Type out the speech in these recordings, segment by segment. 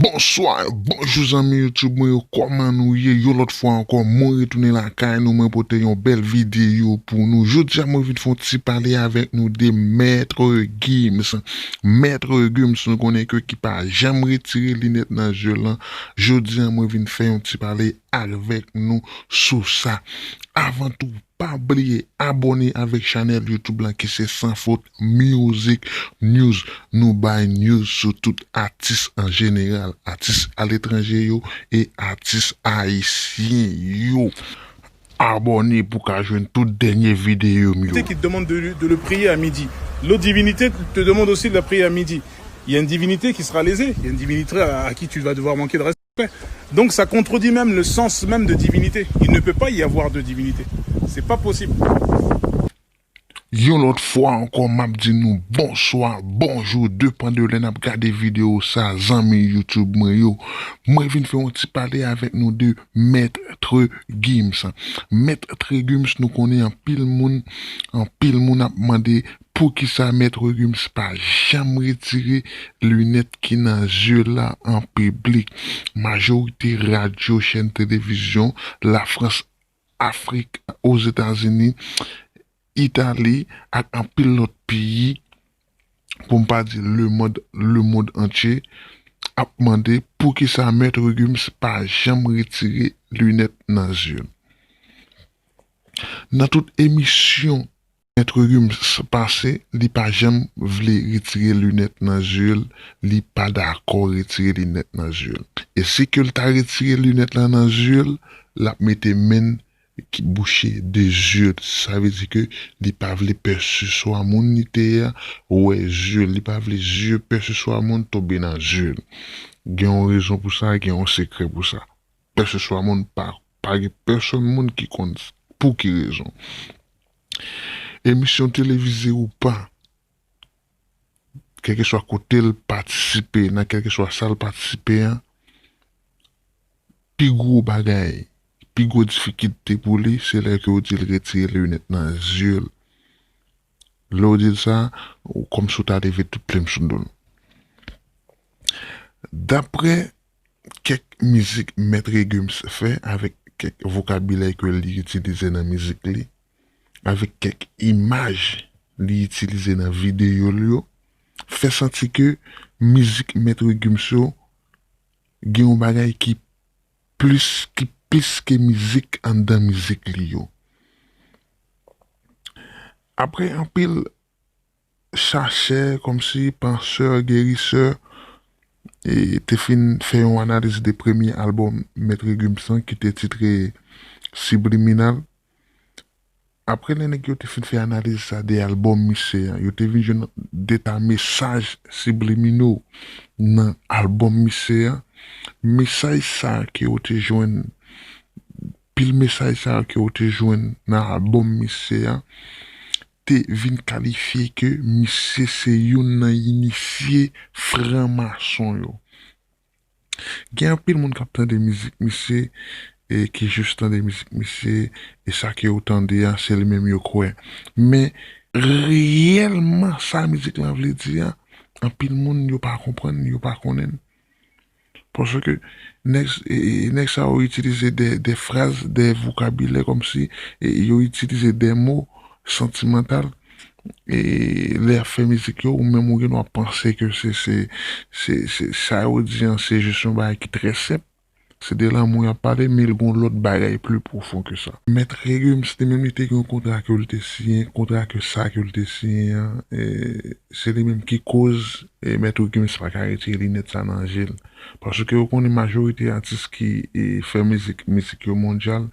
Bonswa, bonjou zanmi YouTube mwen yo kòman nou ye yon lòt fwa ankò mwen retounen lakay nou mwen pote yon bèl videyo pou nou jodia mwen vin fè yon ti pale avèk nou de Maître Gims Maître Gims nou konnen ke ki pa janm retire linèt nan zye l lan jodia mwen vin fè yon ti pale avèk nou sou sa avan tou Pa bliye abone avek chanel YouTube lan ki se Sans Faute Music News nou bay news sou tout atis an jeneral, atis aletranje yo e atis ayisyen yo. Abone pou ka jwenn tout denye video m yo. qui te demande de de le prier à midi l'autre divinité te demande aussi de la prier à midi il ya une divinité qui sera lésée il ya une divinitra à qui tu vas devoir manquer de res. Donk sa kontredit menm le sans menm de divinite. Il ne peut pas y avoir deux divinités. Se pa posib. Yon lòt fwa ankò map di nou bonswa, bonjou depan de lè nap gade video sa zanmi youtube mwen yo. Mwen vin fè yon ti pale avèk nou de Maitre Gims. Maitre Gims nou konnen anpil moun anpil moun ap mande Poukisa Maître Gims pa janm retire lunèt ki nan zye la an piblik? Majorite radyo, chèn televizyon, Lafrans, Afrik, Ozetazini, Itali ak anpil lòt peyi, pou m pa di lemond, lemond antye, ap mande poukisa Maître Gims pa janm retire lunèt nan zye l. Nan tout emisyon. Maitre Gims pase li pa janm vle retire lunèt nan zye l li pa dakò retire linèt nan zye l e si ke l ta retire linèt lan nan zye l lap mete men l ki bouche 2 zye l sa vle di ke li pa vle pè se swa moun li te ye a wè zye l li pa vle zye pè se swa moun tonbe nan zye l gen yon rezon pou sa gen yon sekrè pou sa. Pèseswa moun pa pa gen pèsonn moun ki konn pou ki rezon. Emisyon televize ou pa, kèlkeswa kote l patisipe, nan kèlkeswa sa l patisipe a, pi gwo bagay, pi gwo difikilte pou li se lè ke w di l retire linèt nan zye l. Lè w di l sa, kòmsi w ta leve tout plim sou do l. Daprè Kèk mizik Mèt Regums fè avèk kèk vokabilè ke li itilize nan mizik li, avèk kèk imaj li itilize nan videyo l yo, fè santi ke mizik Mèt Regums yo gen yon bagay ki plis, ki plis ke mizik anndan mizik li yo. Aprè anpil chachè, kòmsi pansè, gerisè, te fin fè yon analiz de premye albòm Mèt Regums lan ki te titre Subliminal. Apre lè nèg yo te fin fè analiz sa de albòm misye an, yo te vin jwenn de ta mesaj sibliminaux nan albòm misye an. Mesaj sa ke yo te jwenn, pil mesaj sa yo ke yo te jwenn nan albòm misye an, te vin kalifye ke misye se youn nan inisye fran mason yo. Gen anpil moun kap tande mizik misye e ki jis tande mizik misye e sa ke yo tande an se li menm yo kwè. Men reyèlman sa mizik lan vle di an anpil moun yo pa konprann, yo pa konnen. Paske nèg sa yo itilize de fraz, de vokabilè kòm si yo itilize de mo santimantal lè y ap fè mizik yo, ou menm ou gen dwa panse ke se sa yo di an se jis yon bagay ki trè senp, se de lanmou y ap pale men l gen yon lòt bagay pli pwofon ke sa. Mèt Remy se te menm li te gen yon kontra ke l te siyen, kontra ke sa ke l te siyen an. Se li menm ki koz Maître Gims pa ka retire linèt sa nan je l. Paske ou konnen majorite atis ki fè mizik, mizik yo mondyal,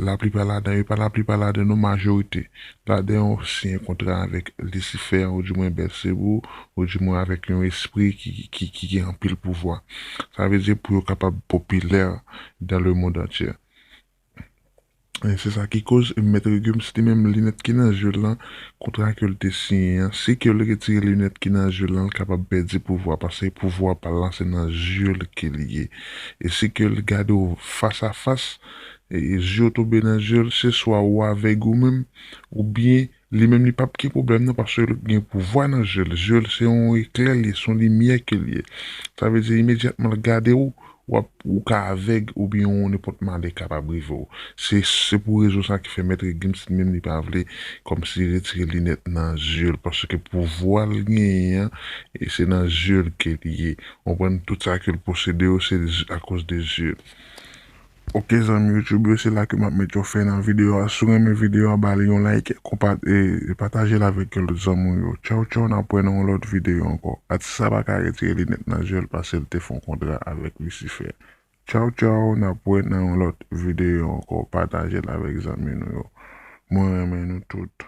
laplipa ladan yo, pa laplipa ladan non majorite ladan yo siyen kontra avèk lisifè ou di mwen Bèlsebo ou di mwen avèk yon espri ki gen anpil pouvwa. Sa vle di pou yo kapab popilè dan le mond antyè. Se sa ki koz mèt Regums li menm linèt ki nan je l lan kontra ke l te siyen an si ke l retire linèt ki nan je l lan l kapab pèdi pouvwa paske pouvwa pa l lan se nan je l ke l ye e si ke l gade w fas a fas e je w tonbe nan je l se swa ou avèg ou menm oubyen Li menm li pap gen problèm nan paske l gen pouvwa nan zye l, zye l se yon eklè l ye, se yon limyè ke l ye. Sa vle di imedyatman l gade w, w ap, ou ka avèg oubyen yon nenpòt malè kapab rive w. Se, se pou rezon sa ki fè Maitre Gims li menm li pa vle kòmsi retire linèt nan zye l paske pouvwa l genyen an e se nan zye l ke l ye. Konprann? Tout sa ke l posede yo se akoz de zye l. Ok zanmi YouTube yo se la ke map met yon fen nan video a siw renmen video a bal yon like konpat e patajel avek ke lot zanmi w yo tchaw tchaw nap wè nan yon lot video anko atis sa paka retire linèt nan zyel pasel te fon kontra avek lisifè tchaw tchaw nap wè nan yon lot video anko patajel avek zanmi nou yo mwen renmen nou tout.